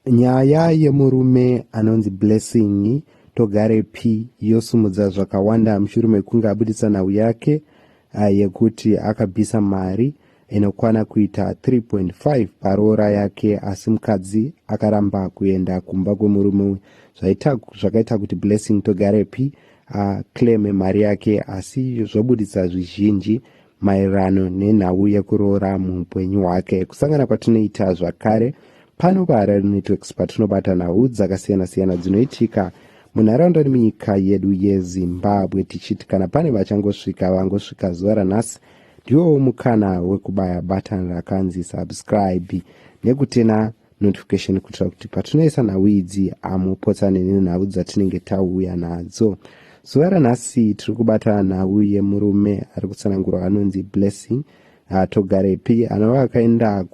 Nyaya yemurume anonzi Blessing Togarepi yosumudza zvakawanda mushure mekunge abuditsa nhau yake eh, yekuti akabvisa mari inokwana kuita 3.5 paroora yake asi mukadzi akaramba kuenda kumba kwemurume zvakaita kuti Blessing Togarepi aclaime mari yake asi zvobuditsa zvizhinji maererano nenhau yekuroora muupenyu hwake kusangana kwatinoita zvakare pano paharare networks patinobata nhau dzakasiyana-siyana dzinoitika munharaunda nemunyika yedu yezimbabwe tichiti kana pane vachangosvika vangosvika zuva ranhasi ndiwowo mukana wekubaya batani rakanzi subscribe nekutena notification kuitira kuti patinoisa nhau idzi hamupotsane nenhau dzatinenge tauya nadzo zuva ranhasi tiri kubata nhau yemurume ari kutsanangurwa anonzi blessing hatogarepi anova akaenda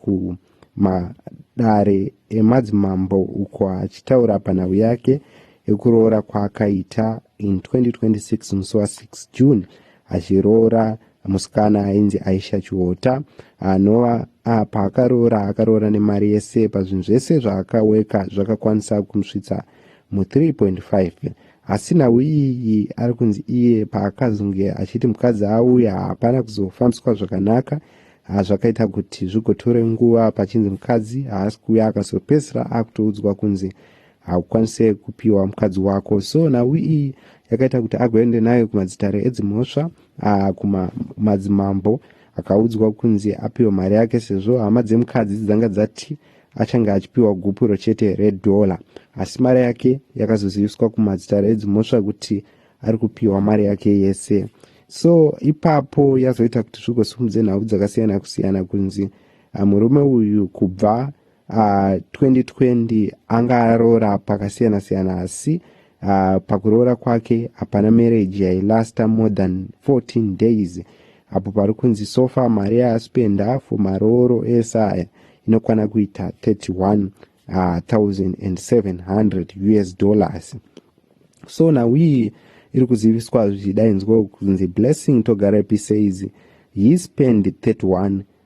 kumadare emadzimambo uko achitaura panhau yake yekuroora kwaakaita in 2026 musi wa6 june achiroora musikana ainzi aisha chiota anova ah, paakaroora akaroora nemari yese pazvinhu zvese zvaakaweka zvakakwanisa kumusvitsa mu3.5 asi nhau iyi ari kunzi iye paakazonge achiti mukadzi auya hapana kuzofambiswa zvakanaka ah, zvakaita kuti zvigotore nguva pachinzi mukadzi haasi kuuya akazopedzisira akutoudzwa kunzi haukwanise kupiwa mukadzi wako so nhau iyi yakaita kuti agoende nayo kumadzitare edzimhosva ah, kumadzimambo akaudzwa kunzi apiwe mari yake sezvo hama dzemukadzi dzanga dzati achange achipiwa gupuro chete redhola asi mari yake yakazoziviswa kumadzitare edzimhosva kuti ari kupiwa mari yake yese so ipapo yazoita kuti zvigosimudze nhau dzakasiyana kusiyana kunzi ah, murume uyu kubva uh, ah, 2020 anga aroora pakasiyana siyana asi uh, pakuroora kwake hapana marriage yailasta more than 14 days apo pari kunzi sofa mari yaaspenda for marooro ese aya inokwana kuita 31700 uh, us dollars so now iyi iri kuziviswa zvichidainzwa kunzi blessing togara pisaizi he spend 31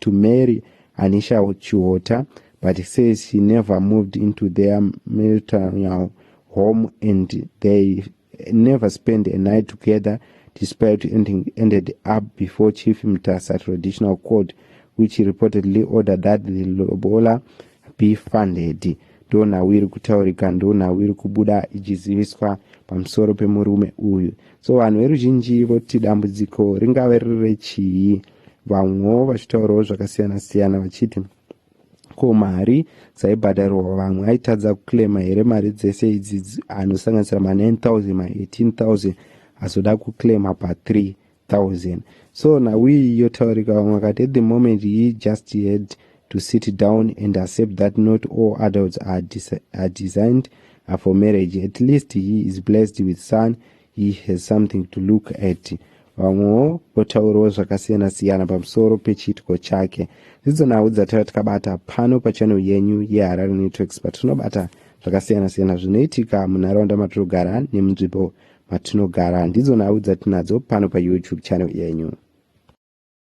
to marry Anisha Chiota but he says she never moved into their maternal home and they never spend a night together despite ending, ended up before Chief Mtasa Traditional Court which reportedly ordered that the lobola be funded ndonhau iri kutaurika ndonhau iri kubuda ichiziviswa pamusoro pemurume uyu so vanhu veruzhinji voti dambudziko ringave riri rechii vamwewo vachitaurawo zvakasiyana siyana vachiti ko mari dzaibhadharwa vamwe aitadza kuclaima here mari dzese idzi anosanganisira ma9000 ma18000 azoda kuclaima pa3 000 so nawiyi yotaurika vamwe vakati at the moment he just had to sit down and accept that not all adults are, are designed for marriage at least he is blessed with son he has something to look at vamwewo votaurawo zvakasiyana siyana pamusoro pechiitiko chake ndidzo nhau dzatara tikabata pano pachanel yenyu yeharare networks patinobata zvakasiyana siyana zvinoitika munharaunda matinogara nemunzvimbo matinogara ndidzo nhau dzatinadzo pano payoutube channel yenyu